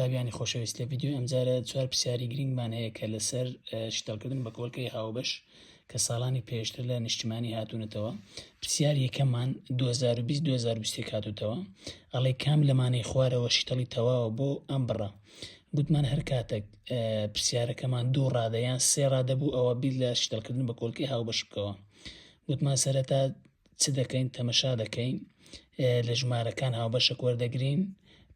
قوتابیانی خۆشەویست لە ڤیددیوی ئەمجارە چوار پرسیاری گرنگمان هەیە کە لەسەر شتەڵکردن بە کۆلکەی هاوبەش کە ساڵانی پێشتر لە نیشتمانی هاتوونەتەوە پرسیار یەکەمان 2020 2020 هاتوتەوە ئەڵێ کام لەمانەی خوارەوە شتەڵی تەواوە بۆ ئەم بڕە گوتمان هەر کاتێک پرسیارەکەمان دوو ڕادەیان سێ ڕادەبوو ئەوە بیر لە شتەڵکردن بە کۆلکی هاوبەش بکەوە گوتمان سەرەتا چ دەکەین تەمەشا دەکەین لە ژمارەکان هاوبەشەک وەردەگرین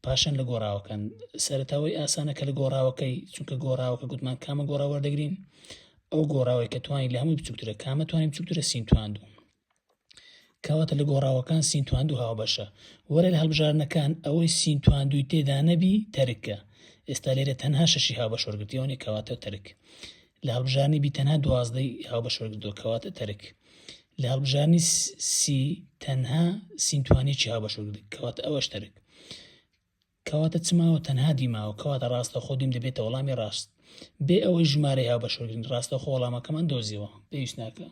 پاشان لە گۆڕاوەکان سەرتاوی ئاسانە کە لە گۆڕاوەکەی چونکە گۆڕاوەکە گوتمان کامە گۆڕا وەردەگرین ئەو گۆڕاوی کە توانین لە هەمووی بچووکترە کامە توانین بچووکترە سین تواندوو کەواتە لە گۆڕاوەکان سین تواندوو هاوبەشە وەرە لە هەڵبژارنەکان ئەوەی سین تواندووی تێدا نەبی تەرکە ئێستا لێرە تەنها شەشی هاوبەش وەرگرتیەوەنی کەواتە تەرک لە هەڵبژاردنی-بی تەنها دوازدە ی هاوبەش وەرگرتووە کەواتە تەرک. لە هەڵبژاردنی-سی تەنها سین توانیەکی هاوبەش وەرگرت کەواتە ئەوەش تەرک. کەواتە چ ماوە تەنها دی ماوە کەواتە ڕاستەوخۆ دیم دەبێتە وەڵامی ڕاست. بێ ئەوەی ژمارەی هاوبەش وەرگرین ڕاستەوخۆ وەڵامەکەمان دۆزیەوە پێویست ناکە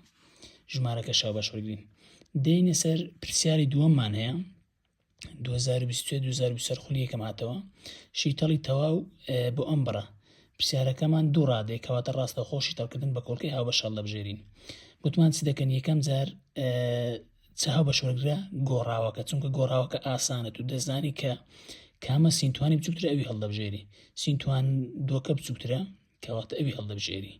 ژمارەکەش هاوبەش وەرگرین. دێینە سەر پرسیاری دووەممان هەیە. سەرخلی یەکەم هاتەوە شیتەڵی تەواو بۆ ئەم بڕە پرسیارەکەمان دوو ڕادێک کەواتە ڕاستە خۆشی تەڵکردن بە کۆڵکی هاو بەشەڵ دەبژێرین گوتمان چ دەکەن یەکەم جار چاو بە شۆگرە گۆڕاوەکە چونکە گۆڕاوەکە ئاسانە و دەزانی کە کامە سینتوانی بچووترە ئەوی هەڵدەبژێری سینتوان دۆکە بچووترە کەواتە ئەوی هەڵدەبژێری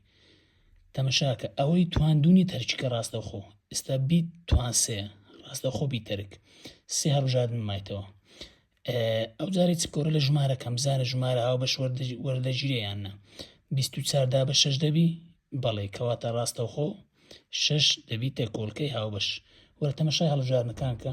تەمەشاکە ئەوەی تواندونی تەرکیکە ڕاستەخۆ ئستا بیت توان سێ ڕاستەخۆ بی تەرک سێ هەڵژادن مایتەوە ئەو جارێک چکۆرە لە ژمارە کەم زانە ژمارە هاو بەش وەردەگیرێیاننا 24 دا بە شش دەبی بەڵێ کەواتە ڕاستەخۆ شش دەبیتە کۆلکەی هاوبەش وەرە تەمەشای هەڵژارنەکانکە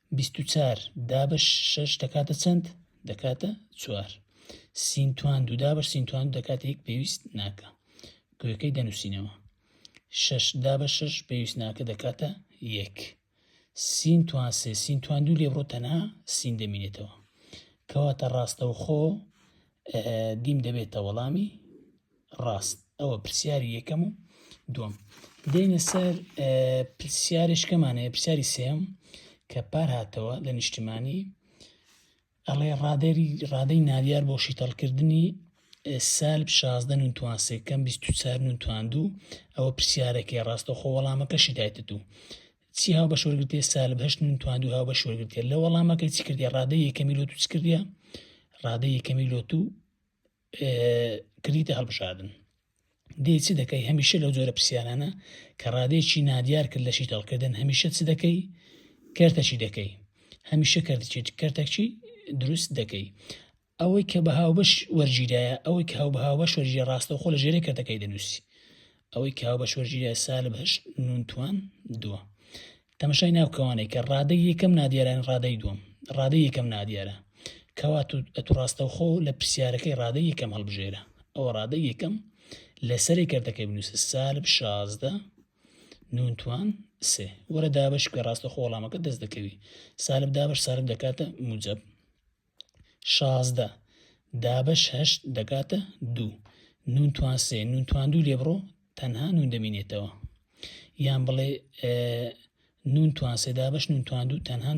بیست و چار دا بە شەش دەکاتە چەند دەکاتە چوار سین توان دوودا بە سین توان دەکاتە یەک پێویست ناکە گوێەکەی دەنووسینەوە شەش دا بە شەش پێویست ناکە دەکاتە یەک سین توان سێ سین توان دوو لێبڕۆ تەنها سین دەمینێتەوە کەواتە ڕاستەوخۆ دیم دەبێتە وەڵامی ڕاست ئەوە پرسیاری یەکەم و دوم دێنە سەر پرسیارشکەمانەیە پرسیاری سێم کە پار هاتەوە لە نیشتمانی ئەڵێ ڕادێری ڕادەی نادیار بۆ شیتەڵکردنی سال شازدە نوتوان سێکەم 24 نوتواندوو ئەوە پرسیارەکەی ڕاستەخۆ وەڵامەکەشی دایتت و چی هاوبەش وەرگرتێ سالب هەشت من تواندو هاوبەش وەرگرتێ لە وەڵامەکە چی کردێ ڕادە یەکەمی لۆ تو چ کردە ڕادە یەکەمی لۆ تو کردیتە هەڵبژاردن دێ چ دەکەی هەمیشە لەو جۆرە پرسیارانە کە ڕادێکی نادیار کرد لەشی تەڵکردن هەمیشە چ دەکەی کەرتەچی دەکەی هەمیشە کردچی کەرتەکچی دروست دەکەی ئەوەی کە بە هاوبەش وەرگیرایە، ئەوەی کە هاو بە هاوبەش وەرگیرا ڕاستەوخۆ لە ژێرەی کەرتەکەی دەنووسی ئەوەی کە هاوبەش وەرگیرای سالب هەشت نون توان دووە. تەمەشای ناو کەوانەی کە ڕادەی یەکەم نادیاران ڕادەی دووەم ڕادەی یەکەم نادیارە کەوا ئەتو ڕاستەوخۆ لە پرسیارەکەی ڕادەی یەکەم هەڵبژێرە ئەوە ڕادەی یەکەم لەسەری کردەکەی بنووسە سالب شازدە نونتوان سێ وەرە دابش کە ڕاستە خۆڵامەکە دەست دەکەوی سالب دابش سالب دەکاتە موجب شازدە دابەش هەشت دەکاتە دوو نون توان سێ نون توان دوو لێ بڕۆ تەنها نون دەمینێتەوە یان بڵێ نون توان سێ دابەش نون توان دوو تەنها نون